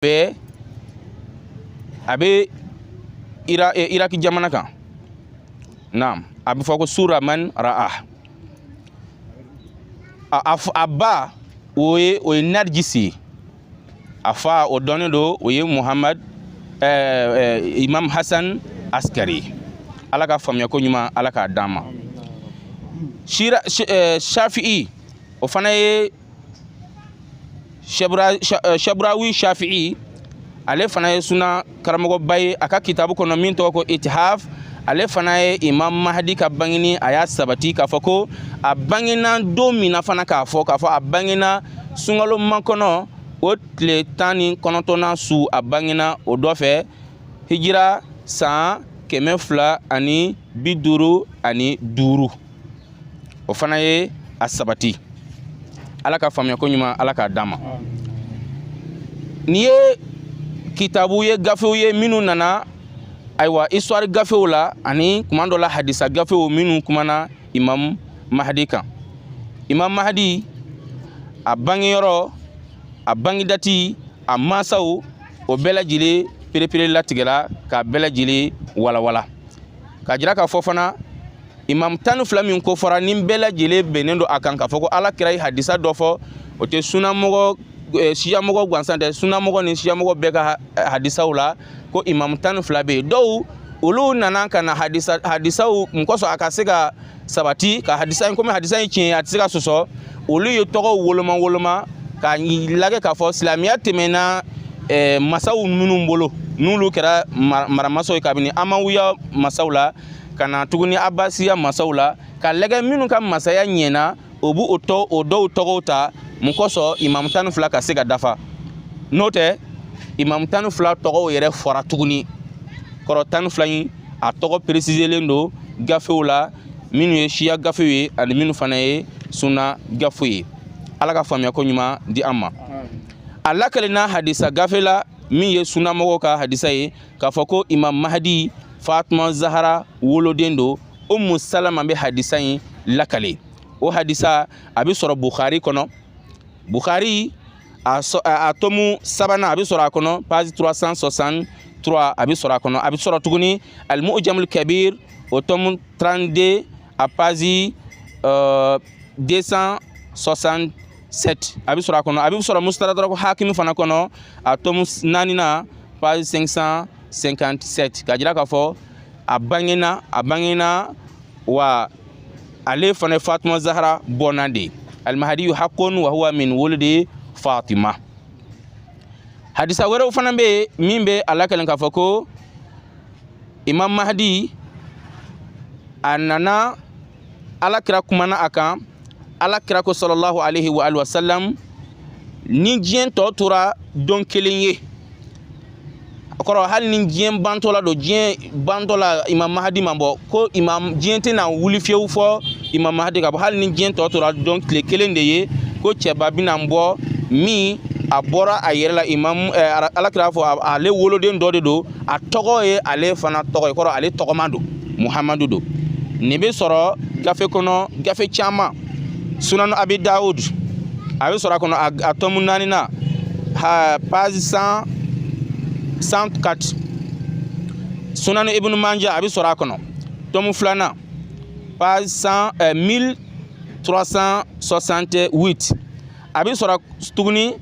bɛɛ a bɛ ira eh, iraki jamana kan naam a bɛ fɔ ko sura man ra'a a, a, f- a ba o ye o ye narijisi ye a fa o dɔnnen don o ye muhamad eh, eh, imam hasan askari ye. ala ka faamuyako ɲuman ala k'a d'an ma Shira- sh- eh, shafi'i o fana ye shaburawi shafi'i ale fana ye suna karamɔgɔba ye a ka kitabu kɔnɔ min tɔgɔ ko itihaf ale fana ye imam mahadi ka bangini a y'a sabati k'a fɔ ko a bangena don min na fana k'a fɔ k'a fɔ a bangena sunkalo makɔnɔ o tile tan ni kɔnɔntɔnnan su a bangena o dɔ fɛ hijira san kɛmɛ fila ani bi duuru ani duuru o fana ye a sabati ala ka faamuyako ɲuman ala k'a d'an ma n'i ye kitabu ye gafew ye minnu nana ayiwa histoire gafew la ani kuma dɔ la hadisa gafew minnu kumana imam mahadi kan imam mahadi a bangeyɔrɔ a bangedati a mansaw o bɛɛ lajɛlen perepere latigɛra k'a bɛɛ lajɛlen walawala k'a jira k'a fɔ fana imam tan ni fila min ko fɔra ni bɛɛ lajɛlen bɛnnen don a kan k'a fɔ ko ala kira ye hadisa dɔ fɔ o tɛ sunamɔgɔ eh, siyamɔgɔ gansan tɛ sunamɔgɔ ni siyamɔgɔ bɛɛ ka hadisaw la ko imam tan ni fila bɛ yen dɔw olu nana ka na hadisa hadisaw mun kosɔn a ka se ka sabati ka hadisa in komi hadisa in tiɲɛ a tɛ se ka sɔsɔ olu ye tɔgɔw woloma woloma ka lagɛ k'a fɔ silamɛya tɛmɛna eh, masaw minnu bolo n'olu kɛra maramasaw ye kabini amawiya masaw la ka na tuguni abasiya masaw la ka lagɛ minnu ka masaya ɲɛna o b'o tɔ o dɔw tɔgɔw ta mun kosɔn imamu tan ni fila ka se ka dafa n'o tɛ imamu tan ni fila tɔgɔw yɛrɛ fɔra tuguni kɔrɔ tan ni fila in a tɔgɔ peresizelen don gafew la minnu ye siya gafew ye ani minnu fana ye sunna gafew ye ala ka faamuyako ɲuman di an ma a lakalena hadisa gafe la min ye sunnamɔgɔw ka hadisa ye k'a fɔ ko imam mahadi fatuma zahara woloden don umu salama bɛ hadisa in lakale o hadisa a bɛ sɔrɔ bukhari kɔnɔ bukhari a tɔmu sabanan a bɛ sɔrɔ a kɔnɔ page 363 a bɛ sɔrɔ a kɔnɔ a bɛ sɔrɔ tuguni alimu'ujamul kabir o tɔmu 32 a page uh, 267 a bɛ sɔrɔ a kɔnɔ a bɛ sɔrɔ musitadarako hakimi fana kɔnɔ a tomu naaninan page 557 ka jira k'a fɔ a bangena a bangena wa ale fana ye fatuma zahara bɔnna de ye alimahadiyu hakun wa huwa min wuldi fatima hadisa wɛrɛw fana bɛ yen min bɛ a lakali k'a fɔ ko imam mahdi a nana ala kira kumana a kan ala kira ko salalahu alaihi wa alihi wasalam ni diɲɛ tɔ tora don kelen ye a kɔrɔ hali ni diɲɛ bantɔ la don diɲɛ bantɔ la imam mahadi ma bɔ ko imam diɲɛ tɛna wuli fiyewu fo imam mahadi ka bɔ hali ni diɲɛ tɔ tora don tile kelen de ye ko cɛba bɛna bɔ min a bɔra a yɛrɛ la imam eh, ala kira fɔ ale woloden dɔ de don a tɔgɔ ye ale fana tɔgɔ ye kɔrɔ ale tɔgɔma don muhamadu don nin bɛ sɔrɔ gafe kɔnɔ gafe caman sunanu abi dawud a bɛ sɔrɔ a kɔnɔ a tɔmu naaninan a page cent cent quatre sunanu ibnu manja a bɛ sɔrɔ a kɔnɔ tɔmu filanan page cent eh, mille trois cent soixante huit a bɛ sɔrɔ tuguni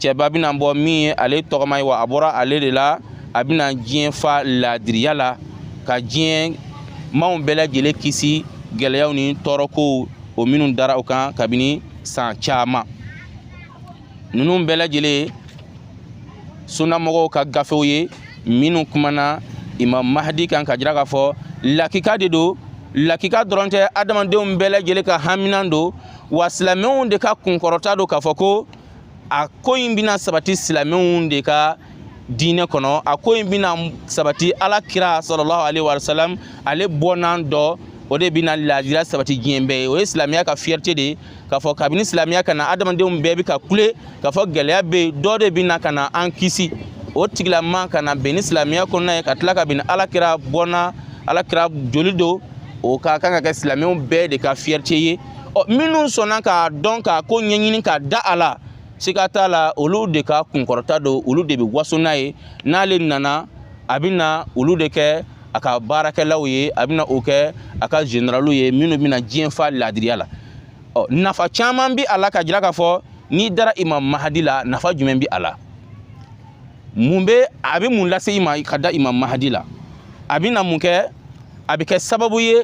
cɛba bɛna bɔ min ye ale tɔgɔma ye wa a bɔra ale de la a bɛna diɲɛ fa laadiriya la ka diɲɛ maaw bɛɛ lajɛlen kisi gɛlɛyaw ni tɔɔrɔkow o minnu dara o kan kabini san caman ninnu bɛɛ lajɛlen sunnamɔgɔw ka gafew ye minnu kumana imam mahadi kan ka jira k'a fɔ lakika de don lakika dɔrɔn tɛ adamadenw bɛɛ lajɛlen ka haminan don wa silamɛw de ka kunkɔrɔta don k'a fɔ ko a ko in bɛna sabati silamɛw de ka diinɛ kɔnɔ a ko in bɛna sabati ala kira salalahu alaihi wa salam ale bɔnna dɔ o de bɛna laadiriya sabati diɲɛ bɛɛ ye o ye silamɛya ka fierté de ye k'a fɔ kabini silamɛya ka na adamadenw bɛɛ bɛ ka kule k'a fɔ gɛlɛya bɛ yen dɔ de bɛna ka na an kisi o tigilama ka na bɛn ni silamɛya kɔnɔna ye ka tila ka bɛn ala kira bɔnna ala kira joli don o ka kan ka kɛ silamɛw bɛɛ de ka fierté ye ɔ minnu sɔnna k'a dɔn k'a ko ɲɛɲini ka da a la siga t'a la olu de ka kunkɔrɔta don olu de bɛ waso n'a ye n'ale nana a bɛna olu de kɛ a ka baarakɛlaw ye a bɛna o kɛ a ka generaliw ye minnu bɛna diɲɛ fa laadiriya la ɔ nafa caman bɛ a la ka jira k'a fɔ n'i dara imam mahadi la nafa jumɛn bɛ a la mun bɛ a bɛ mun lase i ma ka da imam mahadi la a bɛna mun kɛ a bɛ kɛ sababu ye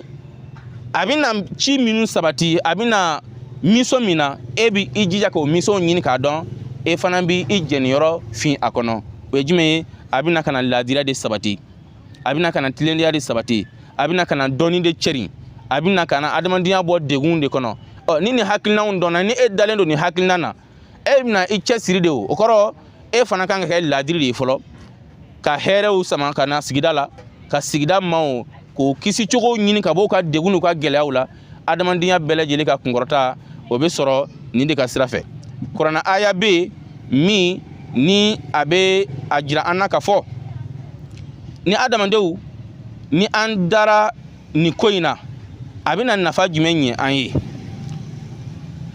a bɛna ci minnu sabati a bɛna mission min na e bɛ i jija k'o mission ɲini k'a dɔn e fana bɛ i jɛniyɔrɔ fin a kɔnɔ o ye jumɛn ye a bɛna ka na laadiriya de sabati a bɛna ka na tilennenya de sabati a bɛna ka na dɔnni de cɛrin a bɛna ka na adamadenya bɔ degun de kɔnɔ ɔ ni nin hakilinaw dɔnna ni e dalen don nin hakilina na e bɛna i cɛsiri de o o kɔrɔ e fana kan ka kɛ laadiri de ye fɔlɔ ka hɛrɛw sama ka na sigida la ka sigida maaw k'o kisi cogo ɲini ka bɔ u ka degun n'u ka gɛlɛyaw la adamadenya bɛɛ lajɛlen ka kunkɔrɔta o bɛ sɔrɔ nin de ka sira fɛ kuranna aya bɛ yen min ni a bɛ a jira an na k'a fɔ ni adamadenw ni an dara nin ko in na a bɛna nafa jumɛn ɲɛ an ye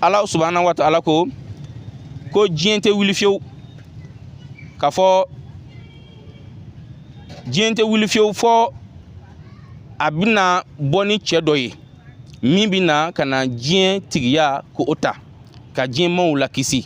ala subahana wa taala ko ko diɲɛ tɛ wuli fiyewu k'a fɔ diɲɛ tɛ wuli fiyewu fɔ a bɛna bɔ ni cɛ dɔ ye min bɛna ka na diɲɛ tigiya k'o ta ka diɲɛ maaw lakisi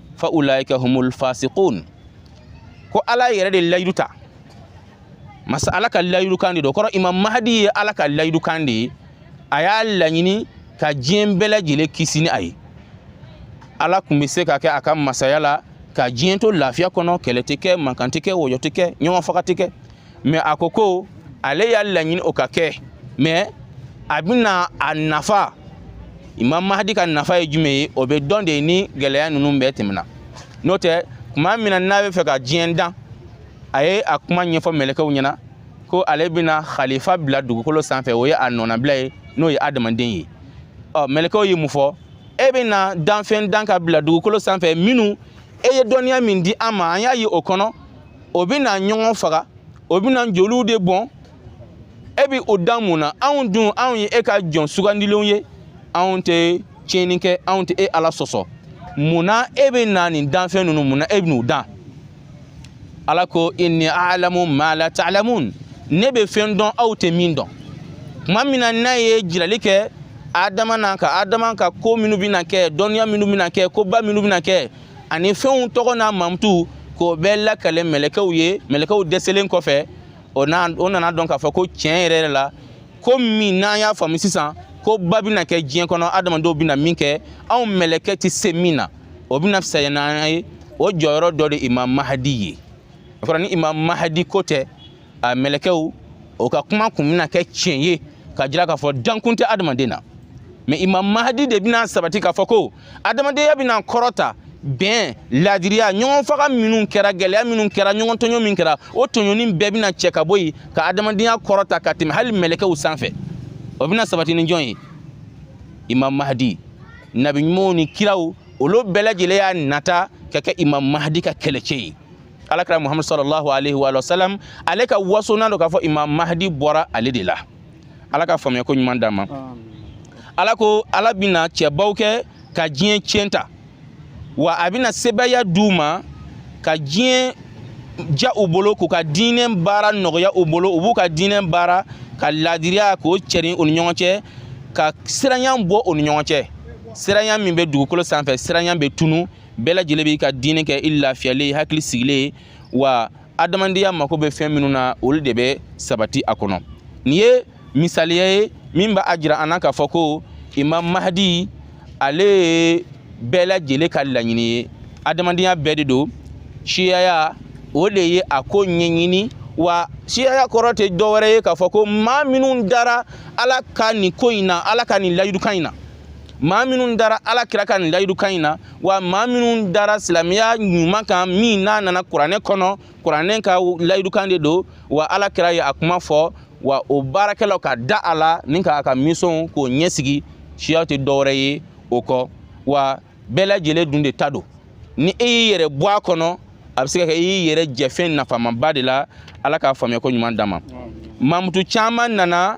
fa ulaika humul fasiqun ko ala yɛrɛ de layidu ta masa ala ka layidu kan de don o kɔrɔ imam mahadi ye ala ka layidu kan de ye a y'a laɲini ka diɲɛ bɛɛ lajɛlen kisi ni a ye ala kun bɛ se ka kɛ a ka masaya la ka diɲɛ to lafiya kɔnɔ kɛlɛ tɛ kɛ mankan tɛ kɛ wɔyɔ tɛ kɛ ɲɔgɔn faga tɛ kɛ mɛ a ko ko ale y'a laɲini o ka kɛ mɛ a bɛna a nafa imam mahadi ka nafa ye jumɛn ye o bɛ dɔn de ni gɛlɛya ninnu bɛɛ tɛmɛna n'o tɛ kuma min na n'a bɛ fɛ ka diɲɛ dan a ye a kuma ɲɛfɔ mɛlɛkɛw ɲɛ na ko ale bɛna khalifa bila dugukolo sanfɛ o ye a nɔnabila ye n'o ye adamaden ye ɔ mɛlɛkɛw ye mun fɔ e bɛna danfɛn dan ka bila dugukolo sanfɛ minnu e ye dɔnniya min di an ma an y'a ye o kɔnɔ o bɛna ɲɔgɔn faga o bɛna joliw de bɔn e bɛ o dan mun na anw dun anw ye e ka jɔn sugandilenw ye anw tɛ tiɲɛni kɛ anw tɛ e ala sɔsɔ mun na e bɛna nin danfɛn ninnu mun na e bɛn'u dan ala ko inni alamu ma la ta'lamun ne bɛ fɛn dɔn aw tɛ min dɔn kuma min na n'a ye jirali kɛ adama na ka adama ka ko minnu bɛna kɛ dɔnniya minnu bɛna kɛ koba minnu bɛna kɛ ani fɛnw tɔgɔ n'a mankutu k'o bɛɛ lakali mɛlɛkɛw ye mɛlɛkɛw dɛsɛlen kɔfɛ o nan'a dɔn k'a fɔ ko tiɲɛ yɛrɛ la ko min n'an y'a faamu sisan koba bɛna kɛ diɲɛ kɔnɔ adamadenw bɛna min kɛ anw mɛlɛkɛ tɛ se min na o bɛna fisaya n'an ye o jɔyɔrɔ dɔ de imam mahadi ye o kɔrɔ ni imam mahadi ko tɛ a mɛlɛkɛw o ka kuma kun bɛna kɛ tiɲɛ ye ka jira k'a fɔ dankun tɛ adamaden na mais imam mahadi de bɛna sabati k'a fɔ ko adamadenya bɛna kɔrɔta bɛn laadiriya ɲɔgɔn faga minnu kɛra gɛlɛya minnu kɛra ɲɔgɔn tɔɲɔ min kɛra o tɔɲɔni bɛɛ bɛna cɛ ka bɔ yen ka adamadenya kɔrɔta ka tɛmɛ hali mɛlɛkɛw sanfɛ o bɛna sabati ni jɔn ye imam mahadi nabi ɲumanw ni kiraw olu bɛɛ lajɛlen y'a nata ka kɛ imam mahadi ka kɛlɛcɛ ye ala kira muhammadu sallallahu alaihi wa sallam ale ka wasonan don k'a fɔ imam mahdi bɔra ale de la ala ka faamuya ko ɲuman d'an ma ala ko ala bɛna cɛbaw kɛ ka diɲɛ ciyɛn ta wa a bɛna sebaaya d'u ma ka diɲɛ ja u bolo k'u ka diinɛ baara nɔgɔya u bolo u b'u ka diinɛ baara ka laadiriya k'o cɛrin u ni ɲɔgɔn cɛ ka siranya bɔ u ni ɲɔgɔn cɛ siranya min bɛ dugukolo sanfɛ siranya bɛ tunu bɛɛ lajɛlen b'i ka diinɛ kɛ i lafiyalen hakili sigilen wa adamadenya mako bɛ fɛn minnu na olu de bɛ sabati a kɔnɔ nin ye misaliya ye min b'a jira an na k'a fɔ ko imam mahadi ale ye bɛɛ lajɛlen ka laɲini ye adamadenya bɛɛ de don siyaya o de ye a ko ɲɛɲini wa siyaya kɔrɔ tɛ dɔwɛrɛ ye k'a fɔ ko maa minnu dara ala ka nin ko in na ala ka nin layidukan in na maa minnu dara ala kira ka nin layidukan in na wa maa minnu dara silamɛya ɲuman kan min n'a nana kuranɛ kɔnɔ kuranɛ ka layidukan de don wa ala kira ye a kuma fɔ wa o baarakɛlaw ka da a la ni k'a ka misɔnw k'o ɲɛsigi siya tɛ dɔwɛrɛ ye o kɔ wa bɛɛ lajɛlen dun de ta don ni e y'i yɛrɛ bɔ a kɔnɔ a bɛ se ka kɛ i y'i yɛrɛ jɛ fɛn nafamaba de la ala ka faamuya ko ɲuman d'an ma mamutu caman nana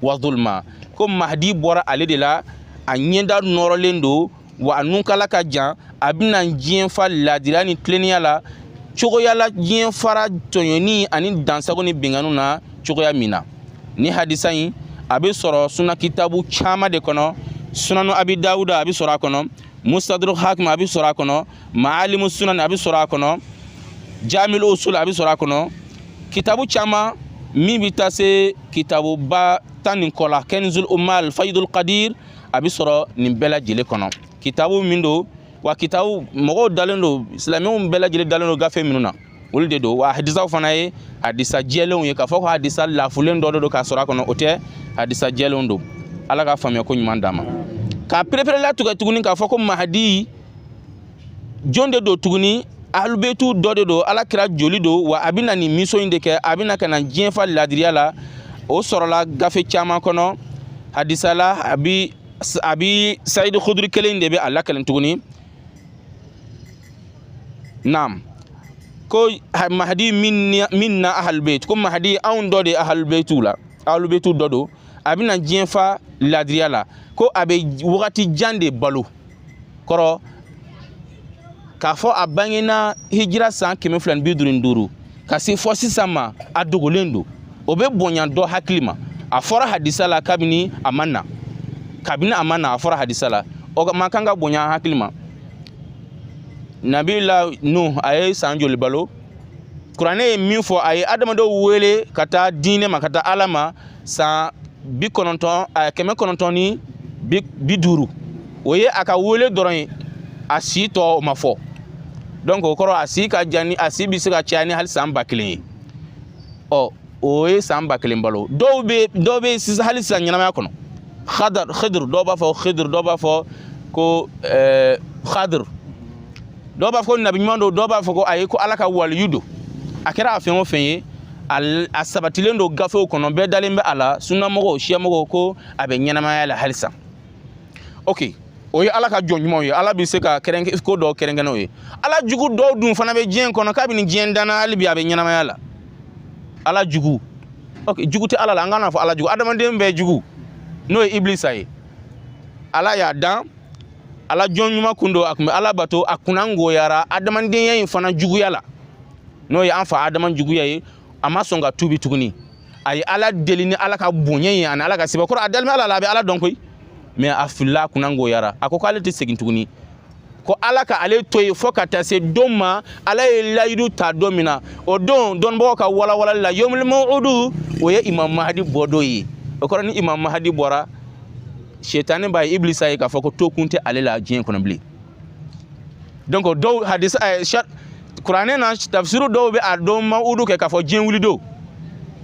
wa zulma ko mahdi bɔra ale de la a ɲɛda nɔrɔlen don wa a nunkala ka jan a bɛna diɲɛ fa laadiriya ni tilennenya la cogoya la diɲɛ fara tɔɲɔni ani dansago ni binkanniw na cogoya min na nin hadisa in a bɛ sɔrɔ suna kitabu caman de kɔnɔ sunanu abi dawuda a bɛ sɔrɔ a kɔnɔ mustadrak hakim a bɛ sɔrɔ a kɔnɔ maalimu sunan a bɛ sɔrɔ a kɔnɔ jamil usul a bɛ sɔrɔ a kɔnɔ kitabu caman min bɛ taa se kitabuba tan ni kɔ la kanzul umal fayidul qadir a bɛ sɔrɔ nin bɛɛ lajɛlen kɔnɔ kitabu min don wa kitabu mɔgɔw dalen don silamɛw bɛɛ lajɛlen dalen don gafe minnu na olu de don wa hadisaw fana ye hadisa jɛlenw ye k'a fɔ ko hadisa lafulen dɔ de don k'a sɔrɔ a kɔnɔ o tɛ hadisa jɛlenw don ala ka faamuya ko ɲuman d'an ma k'a pereperela tigɛ tuguni k'a fɔ ko mahadi jɔn de don tuguni ahlubeitu dɔ de don ala kira joli don wa a bɛna nin misɔn in de kɛ a bɛna ka na diɲɛ fa ladiriya la o sɔrɔla gafe caman kɔnɔ hadisa la abi sayidi kuduri kelen de bɛ a lakali tuguni naam ko mahdi minna ahalbeit ko mahdi anw dɔ de ahalbeitiw la ahalbeitiw dɔ don a bɛna diɲɛ fa ladiriya la ko a bɛ wagati jan de balo kɔrɔ k'a fɔ a bangena hijira san kɛmɛ fila ni bi duuru ni duuru ka se fɔ sisan ma a dogolen don o bɛ bonya dɔ hakili ma a fɔra hadisa la kabini kabini a ma na a fɔra hadisa la o man kan ka bonya hakili ma nabila nuh a ye san joli balo kuranɛ ye min fɔ a ye adamadenw wele ka taa diinɛ ma ka taa ala ma san bi kɔnɔntɔn a kɛmɛ kɔnɔntɔn ni bi duuru o ye a ka wele dɔrɔn ye a si tɔ o ma fɔ donc o kɔrɔ a si ka jan ni a si bɛ se ka caya ni hali san ba kelen ye ɔ o ye san ba kelen balo dɔw bɛ dɔw bɛ sisan hali sisan ɲɛnamaya kɔnɔ khadar khidr dɔw b'a fɔ khidr dɔw b'a fɔ ko ɛɛ khadr dɔw b'a fɔ ko nabi ɲuman don dɔw b'a fɔ ko ayi ko ala ka waliyu don a kɛra a fɛn o fɛn ye a sabatilen don gafew kɔnɔ bɛɛ dalen bɛ a la sunnamɔgɔw siyamɔgɔw ko a bɛ ɲɛnamaya la halisa ok o ye ala ka jɔn ɲumanw ye ala bɛ se ka kɛrɛnkɛ ko dɔw kɛrɛnkɛrɛn u ye ala jugu dɔw dun fana bɛ diɲɛ kɔnɔ kabini diɲɛ danna hali bi a bɛ ɲɛnamaya la ala jugu ok jugu tɛ ala la an kana fɔ ala jugu adamaden bɛɛ jugu n'o ye ibilisa ye ala y'a dan ala jɔn ɲuman kun don a kun bɛ ala bato a kunnagoyara adamadenya in fa juguya la n'o ye an fa adama juguya ye a ma sɔn ka tuubi tuguni a ye ala deli ni ala ka bonya ye ani ala ka sebaaya kɔrɔ a dalen bɛ ala la a bɛ ala dɔn koyi mais a filila a kunnagoyara a ko k'ale tɛ segin tuguni ko ala ka ale to yen fo ka taa se don ma ala ye layidu ta don min na o don dɔnnibagaw ka walawalali la yomul maw'udu o ye imam mahadi bɔ don ye o kɔrɔ ni imam mahadi bɔra shetani b'a ye ibilisa ye k'a fɔ ko to kun tɛ ale la diɲɛ kɔnɔ bilen donc dɔw hadisa ɛɛ eh sar kuranɛ na tafsiru dɔw bɛ a don maw'udu kɛ k'a fɔ diɲɛ wuli don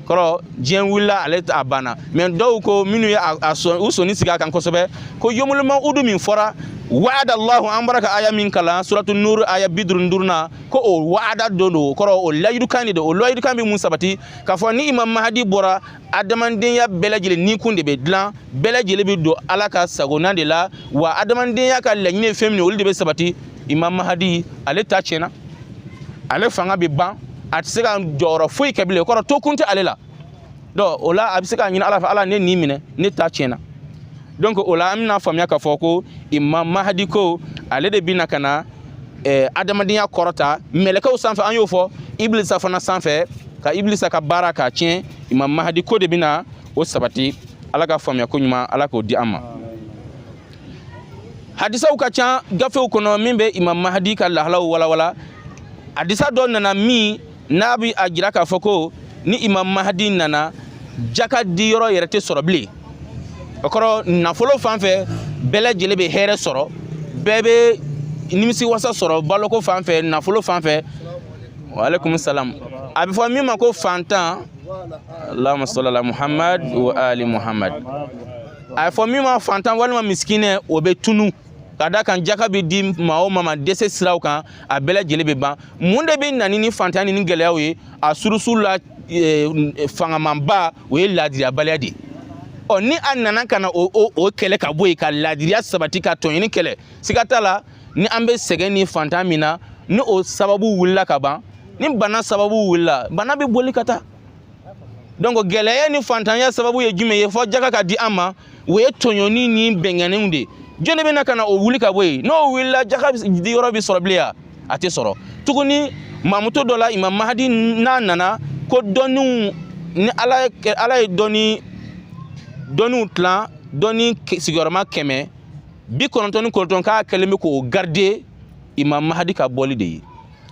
kɔrɔ diɲɛ wulila ale a banna mais dɔw ko minnu ye a sɔn u sɔnni sigi a kan kosɛbɛ ko yomul maw'udu min fɔra wa'ada allahu an bɔra ka aya min kalan suratu nuru aya bi duuru ni duurunan ko o wa'ada don don o kɔrɔ o layidukan de don o layidukan bɛ mun sabati k'a fɔ ni imam mahadi bɔra adamadenya bɛɛ lajɛlen ni kun de bɛ dilan bɛɛ lajɛlen bɛ don ala ka sagona de la wa adamadenya ka laɲini ye fɛn min ye olu de bɛ sabati imam mahadi ale ta tiɲɛna ale fanga bɛ ban a tɛ se ka jɔyɔrɔ foyi kɛ bilen o kɔrɔ to kun tɛ ale la donc o la a bɛ se k'a ɲini ala fɛ ala ne nin minɛ ne ta tiɲɛna donc o la an bɛna faamuya k'a fɔ ko imam mahadi ko ale de bɛna ka na eh, adamadenya kɔrɔta mɛlɛkɛw sanfɛ an y'o fɔ ibilisa fana sanfɛ ka ibilisa ka baara k'a tiɲɛ imam mahadi ko de bɛna o sabati ala ka faamuya ko ɲuman ala k'o di an ma hadisaw ka ca gafew kɔnɔ min bɛ imam mahadi ka lahalaw walawala hadisa dɔ nana min n'a bi a jira k'a fɔ ko ni imam mahadi nana jaka di yɔrɔ yɛrɛ tɛ sɔrɔ bilen o kɔrɔ nafolo fan fɛ bɛɛ lajɛlen bɛ hɛrɛ sɔrɔ bɛɛ bɛ nimisi wasa sɔrɔ baloko fan fɛ nafolo fan fɛ waaleykum salam a bɛ fɔ min ma ko fantan allahumma salli ala muhammad wa ali muhammad a bɛ fɔ min ma fantan walima misikinɛ o bɛ tunu ka da kan jaka bɛ di maa o maa ma dɛsɛ siraw kan a bɛɛ lajɛlen bɛ ban mun de bɛ na ni fantanya ni gɛlɛyaw ye a surusu la e, fangamanba o ye laadiriyabaliya de ye ɔ ni a nana ka na o o o kɛlɛ ka bɔ yen ka laadiriya sabati ka tɔɲɔni kɛlɛ siga t'a la ni an bɛ sɛgɛn ni fantan min na ni o sababu wulila ka ban ni bana sababu wulila bana bɛ boli ka taa donc gɛlɛya ni fantanya sababu ye jumɛn ye fo jaka ka di an ma o ye tɔɲɔni ni bɛnkanniw de ye jɔn de bɛna ka na o wuli ka bɔ yen n'o wulila jaka di yɔrɔ bɛ sɔrɔ bilen ya a tɛ sɔrɔ tuguni mamuto dɔ la imam mahadi n'a nana ko dɔnniw ni ala ye ala ye dɔnni dɔnniw tilan dɔnni sigiyɔrɔma kɛmɛ bi kɔnɔntɔn ni kɔnɔntɔn k'a kɛlen bɛ k'o garder imam mahadi ka bɔli de ye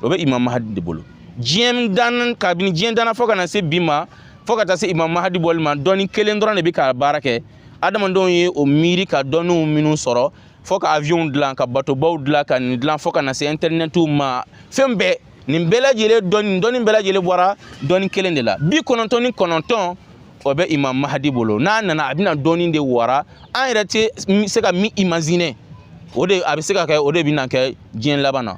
o bɛ imam mahadi de bolo diɲɛ dan kabini diɲɛ danna fo ka na se bi ma fo ka taa se imam mahadi bɔli ma dɔnni kelen dɔrɔn de bɛ ka baara kɛ adamadenw ye o miiri ka dɔnniw minnu sɔrɔ fo ka avion dilan ka batobaw dilan ka nin dilan fo ka na se intɛrinɛtiw ma fɛn bɛɛ nin bɛɛ lajɛlen dɔnni dɔnni bɛɛ lajɛlen bɔra dɔnni kelen de la bi kɔnɔntɔn ni kɔnɔntɔn o bɛ imam mahadi bolo n'a nana a bɛna dɔnni de wara an yɛrɛ tɛ se ka min imaginer o de a bɛ se ka kɛ o de bɛna kɛ diɲɛ laban na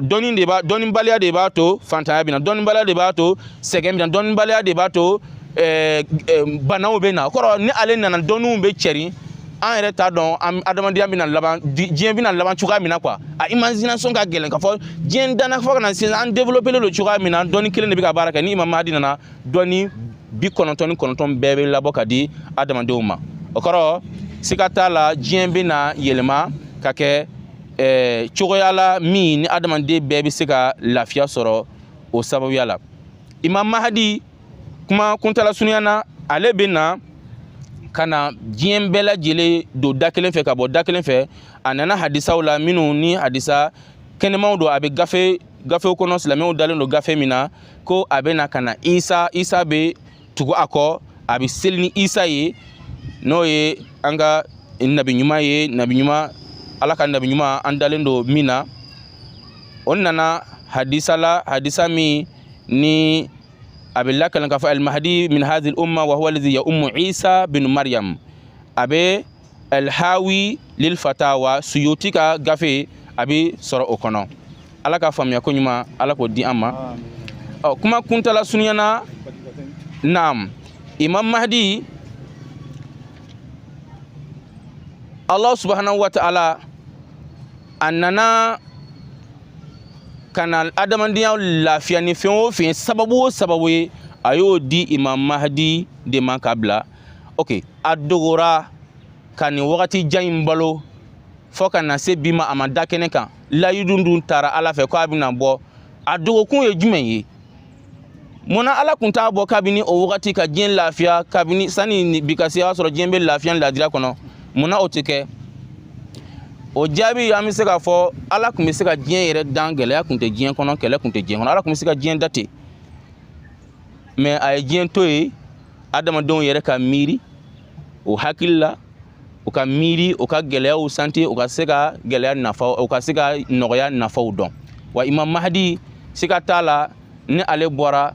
dɔnni de b'a dɔnnibaliya de b'a to fantanya bɛ na dɔnnibaliya de b'a to sɛgɛn bɛ na dɔnnibaliya de b'a to eh, eh, banaw bɛ na o kɔrɔ ni ale nana dɔnniw bɛ cɛrin an yɛrɛ t'a dɔn an adamadenya bɛna laban diɲɛ bɛna laban cogoya min na quoi a imagination ka gɛlɛn k'a fɔ diɲɛ danna fo ka na sisan an développelen don cogoya min na dɔnni kelen de bɛ ka baara kɛ ni imam mahadi nana dɔnni bi kɔnɔntɔn ni kɔnɔntɔn bɛɛ bɛ labɔ ka di adamadenw ma o kɔrɔ siga t'a la diɲɛ bɛna yɛlɛma ka kɛ ɛɛ cogoya la min ni adamaden bɛɛ bɛ se ka lafiya sɔrɔ o sababuya la imam mahadi kuma kuntala surunya na ale bɛ na ka na diɲɛ bɛɛ lajɛlen don da kelen fɛ ka bɔ da kelen fɛ a nana hadisaw la minnu ni hadisa kɛnɛmaw don a bɛ gafe gafew kɔnɔ silamɛw dalen don gafe min na ko a bɛ na ka na isa isa bɛ tugu a kɔ a bɛ seli ni isa ye n'o ye an ka nabi ɲuman ye nabi ɲuman ala ka nabi ɲuman an dalen don min na o nana hadisa la hadisa min ni a bɛ lakalan k'a fɔ almahdi min hazihil umma wa huwa lazi ya'ummu isa bin mariam a bɛ alhawi lil fatawa suyuti ka gafe a bɛ sɔrɔ o kɔnɔ ala ka faamuya ko ɲuman ala k'o di an ma ɔ kuma kuntala surunyana naam imam mahdi allah subhanahu wa ta'ala a nana ka na adamadenya lafiya ni fɛn o fɛn sababu o sababu ye a y'o di imam mahdi de ma ka bila ok a dogora ka nin wagati jan in balo fo ka na se bi ma a ma da kɛnɛ kan layidu dun taara ala fɛ ko a bɛna bɔ a dogokun ye jumɛn ye munna ala kun t'a bɔ kabini o wagati ka diɲɛ lafiya kabini sani bi ka se y'a sɔrɔ diɲɛ bɛ lafiya ni ladiriya kɔnɔ munna o tɛ kɛ o jaabi an bɛ se k'a fɔ ala kun bɛ se ka diɲɛ yɛrɛ dan gɛlɛya kun tɛ diɲɛ kɔnɔ kɛlɛ kun tɛ diɲɛ kɔnɔ ala kun bɛ se ka diɲɛ dan ten mais a ye diɲɛ to yen adamadenw yɛrɛ ka miiri u hakili la u ka miiri u ka gɛlɛyaw sentir u ka se ka gɛlɛya nafa u ka se ka nɔgɔya nafaw dɔn wa imam mahadi siga t'a la ni ale bɔra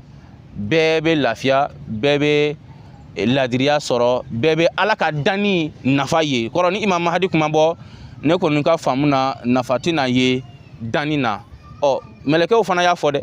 bɛɛ bɛ lafiya bɛɛ bɛ eh, ladiriya sɔrɔ bɛɛ bɛ ala ka danni nafa ye kɔrɔ ni imam mahadi kun ma bɔ ne kɔni ka faamu na nafa tɛna ye danni na ɔ mɛlɛkɛw fana y'a fɔ dɛ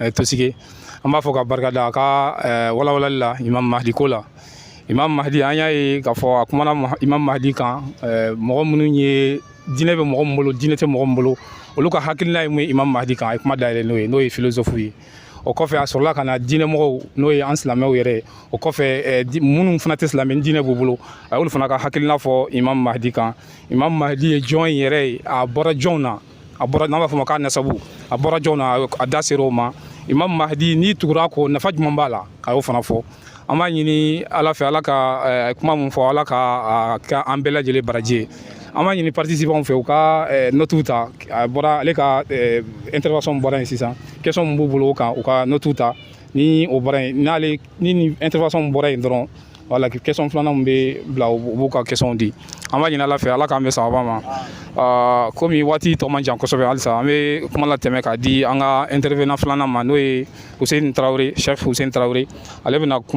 eh, tosige an b'a fo ka barika da a ka eh, walawalali la imam mahdi ko la imam mahdi an y'a ye k'a fɔ a kumana imam mahdi kan eh, mɔgɔ minnu ye diinɛ bɛ mɔgɔ min bolo diinɛ tɛ mɔgɔ min bolo olu ka hakilina ye mun ye imam mahdi kan a ye kuma dayɛlɛ n'o ye n'o ye filozofu ye o kɔfɛ a sɔrɔla ka na diinɛmɔgɔw n'o ye an silamɛw yɛrɛ o kɔfɛ eh, minnu fana tɛ silamɛ diinɛ b'u bolo a y'olu fana ka hakilina fɔ imam mahdi kan imam mahdi ye jɔn yɛrɛ ye a bɔra jɔnw na a bɔra n'an b'a fɔ ma k'a nasabu a bɔra jɔn na a da ser'o ma imam mahdi n'i tugura a kɔ nafa jumɛn b'a la a y'o fana fɔ an b'a ɲini ala fɛ ala ka eh, kuma mun fɔ ala k'a kɛ an bɛɛ lajɛlen baraji ye an b'a ɲini participanw fɛ u ka eh, notiw ta a bɔra ale ka eh, intervention bɔra yen sisan question min b'u bolo o kan u ka notiw ta ni o bɔra yen n'ale ni nin intervention bɔra yen dɔrɔn wala question filanan min bɛ bila u b'u ka questionw di an b'a ɲini ala fɛ ala k'an bɛn sababa ma ah, komi waati tɔ man jan kosɛbɛ halisa an bɛ kuma latɛmɛ k'a di an ka intervenant filanan ma n'o ye Hussein Tarawele cheikh Hussein Tarawele ale bɛna kuma